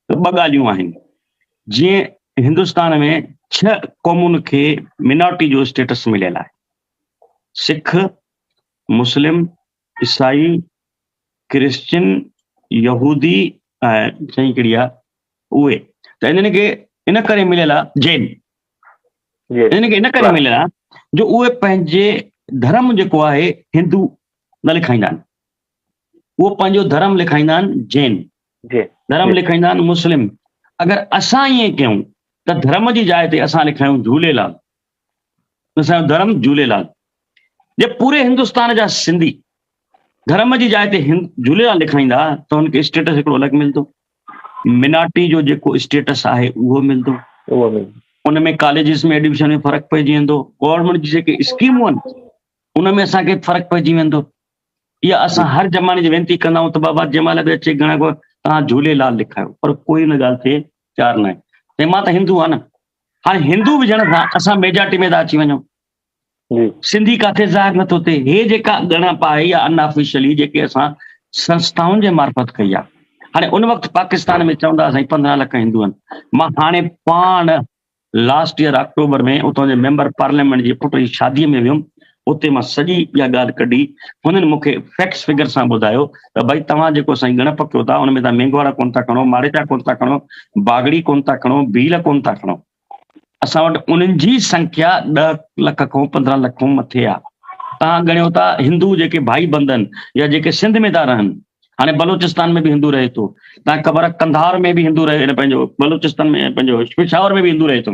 ته ٻه ڳالهيون آهن، جيئن هندستان ۾ ڇهه قومن کي مينارٽي جو اسٽيٽس مليل آهي، سک، مسلم، عيسائي، ڪرسچن، يهودي ۽ ڇهين ڪهڙي آهي اهي ته انهن کي ان ڪري مليل آهي جين انهن کي ان ڪري مليل آهي جو اهي پنهنجي ڌرم جيڪو آهي هندو نه لکائيندا آهن اهو پنهنجو ڌرم لکائيندا آهن جين، ڌرم لکائيندا آهن مسلم، اگر اسان ائين ڪيون ته ڌرم جي جاء تي اسان لکايون جهوليلال، اسان جو ڌرم جهوليلال، جي پوري هندستان جا سنڌي ڌرم جي جاء تي جهوليلال لکائيندا ته هن کي اسٽيٽس هڪڙو الڳ ملندو، منارٽي جو جيڪو اسٽيٽس آهي اهو ملندو، ان ۾ ڪاليجز ۾ ايڊمشن ۾ فرق پئجي ويندو، گورنمينٽ جي جيڪي اسڪيمون آهن ان ۾ اسان کي فرق پئجي ويندو. اها اسان هر جماڻي جي وينتي ڪندا آهيون ته بابا جنهن مهل به اچي گهڻا گهڻا توهان جهوليلال لکايو پر ڪوئي ان ڳالهه تي تيار ناهي ۽ مان ته هندو آهيان نه هاڻي هندو هجڻ سان اسان ميجارٽي ۾ ٿا اچي وڃون سنڌي ڪاٿي ظاهر نٿو ٿئي هي جيڪا ڳڻپ آهي يا ان آفيشلي جيڪي اسان سنسٿائن جي معرفت ڪئي آهي هاڻي ان وقت پاڪستان ۾ چوندا سائين پندرهن لک هندو آهن مان هاڻي پاڻ لاسٽ يئر آڪٽوبر ۾ اتان جي ميمبر پارليامينٽ جي پٽ جي شادي ۾ ويم اتي مان سڄي اها ڳالهه ڪڍي هنن مون کي فيڪٽس فگر سان ٻڌايو ته ڀائي توهان جيڪو سائين ڳڻپ ڪيو ٿا ان ۾ توهان مينگهوارا ڪونه ٿا کڻو ماڙيچا ڪونه ٿا کڻو باگڙي ڪونه ٿا کڻو ڀيل ڪونه ٿا کڻو اسان وٽ انهن جي سنکيا ڏهه لک کان پندرهن لک کان مٿي آهي توهان ڳڻيو ٿا هندو جيڪي ڀائي بندن يا جيڪي سنڌ ۾ ٿا رهن هاڻي بلوچستان ۾ به هندو رهي ٿو تنهن قبر قنڌار ۾ به هندو رهي ٿو پنهنجو بلوچستان ۾ پنهنجو پشاور ۾ به هندو رهي ٿو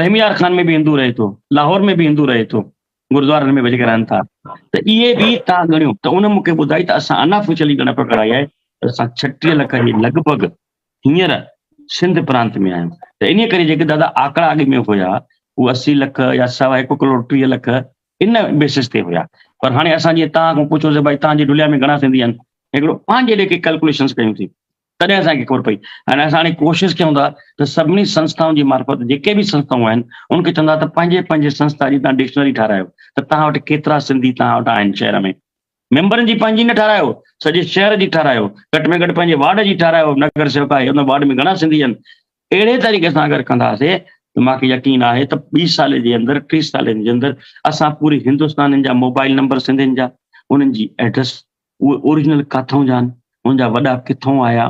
رحميار خان ۾ به هندو رهي ٿو لاهور ۾ به هندو رهي ٿو گردوارن ۾ ويجهه رهن ٿا ته اهي به تان ڳڻيو ته ان مونکي ٻڌائي ته اسان انا فشلي ڳڻپ ڪراي آهي ته اسان ڇٽيهه لک جي لڳ ڀڳ هينئر سنڌ پرانت ۾ آهيون ته انهي ڪري جيڪي دادا آڪڙا اڳ ۾ هيا هو اسي لک يا سوا هڪ ڪروڙ ٽيهه لک ان بيسس تي هيا پر هاڻي اسان جيئن توهان کان پڇيو سي ڀائي توهان جي ڍليا ۾ گهڻا سنڌي آهن هڪڙو پنهنجي ليکي ڪي ڪلڪوليشنس ڪيون ٿي تڏهن اسان کي خبر پئي ۽ اسان هاڻي ڪوشش ڪيون ٿا ته سڀني سنسٿائن جي معرفت جيڪي به سنسٿائون آهن ان کي چوندا ته پنهنجي پنهنجي سنسٿا جي توهان ڊڪشنري ٺارايو ته توهان وٽ ڪيترا سنڌي توهان وٽ آهن شهر ۾ ميمبرن جي پنهنجي نه ٺاهرايو، سڄي شهر جي ٺاهرايو، گهٽ ۾ گهٽ پنهنجي وارڊ جي ٺاهرايو، نگر سيوڪ آهي ان وارڊ ۾ گهڻا سنڌي آهن، اهڙي طريقي سان اگر ڪنداسي ته مان کي يقين آهي ته ٻي سالي جي اندر ٽي سالين جي اندر اسان پوري هندستانين جا موبائل نمبر سنڌين جا انهن جي ايڊريس اهي اوريجنل ڪاٿئون جا آهن ان جا وڏا ڪٿئون آيا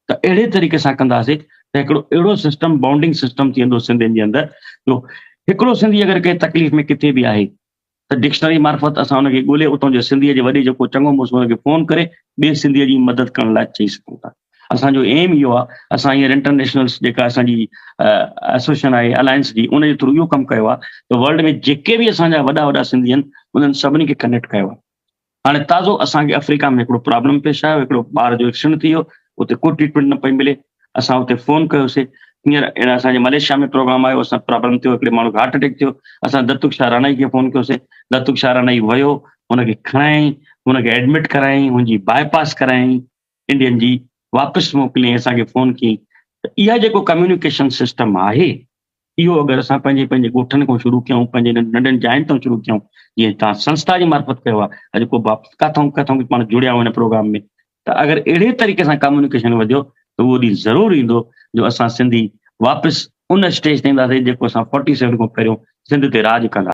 ته اهڙي طريقي سان ڪنداسي ته هڪڙو اهڙو سسٽم بانڊنگ سسٽم ٿي ويندو سنڌين جي اندر جو هڪڙو سنڌي اگر ڪنهن تڪليف ۾ ڪٿي به آهي ته ڊڪشنري معرفت اسان ان کي ڳولي اتان جو سنڌيء جي وڏي جيڪو چڱو مڙس ان کي فون ڪري ٻئي سنڌيء جي مدد ڪرڻ لاء چئي سگهون ٿا. اسان جو ايم اهو آهي اسان هينئر انٽرنيشنلس جيڪا اسان جي ايسوسيئشن آهي الائنس جي ان جي ٿرو اهو ڪم ڪيو آهي ته ورلڊ ۾ جيڪي به اسان جا وڏا وڏا سنڌي آهن انهن سڀني کي ڪنيڪٽ ڪيو آهي هاڻي تازو اسان کي آفريڪا ۾ هڪڙو پرابلم پيش آيو هڪڙو ٻار جو ايڪسيڊنٽ ٿي ويو اتي ڪو ٽريٽمينٽ نه پئي ملي اسان اتي فون ڪيوسي هينئر اهڙا اسان جي مليشيا ۾ پروگرام آيو اسان پرابلم ٿيو هڪڙي ماڻهو کي هارٽ اٽيڪ ٿيو اسان دتوڪ شاهه رانائي کي فون ڪيوسي دتوڪ شاهه رانائي ويو هن کي کڻائين هن کي ايڊمٽ ڪرايائين هن جي باء پاس ڪرايائين انڊين جي واپس موڪلين اسان کي فون ڪين ته اها جيڪو ڪميونيڪيشن سسٽم آهي اهو اگر اسان پنهنجي پنهنجي ڳوٺن کان شروع ڪيون پنهنجي ننڍن جاين تان شروع ڪيون جيئن تان سنسٿا جي مارفت ڪيو آهي اڄ ڪو واپس ڪٿون ڪٿون به پاڻ جڙيا آهيون هن پروگرام ۾ ته اگر اهڙي طريقي سان ڪميونيڪيشن وڌيو ته اهو ڏينهن ضرور ايندو جو اسان سنڌي واپس ان اسٽيج تي اينداسين جيڪو اسان 47 کان پهريون سنڌ تي راڄ ڪندا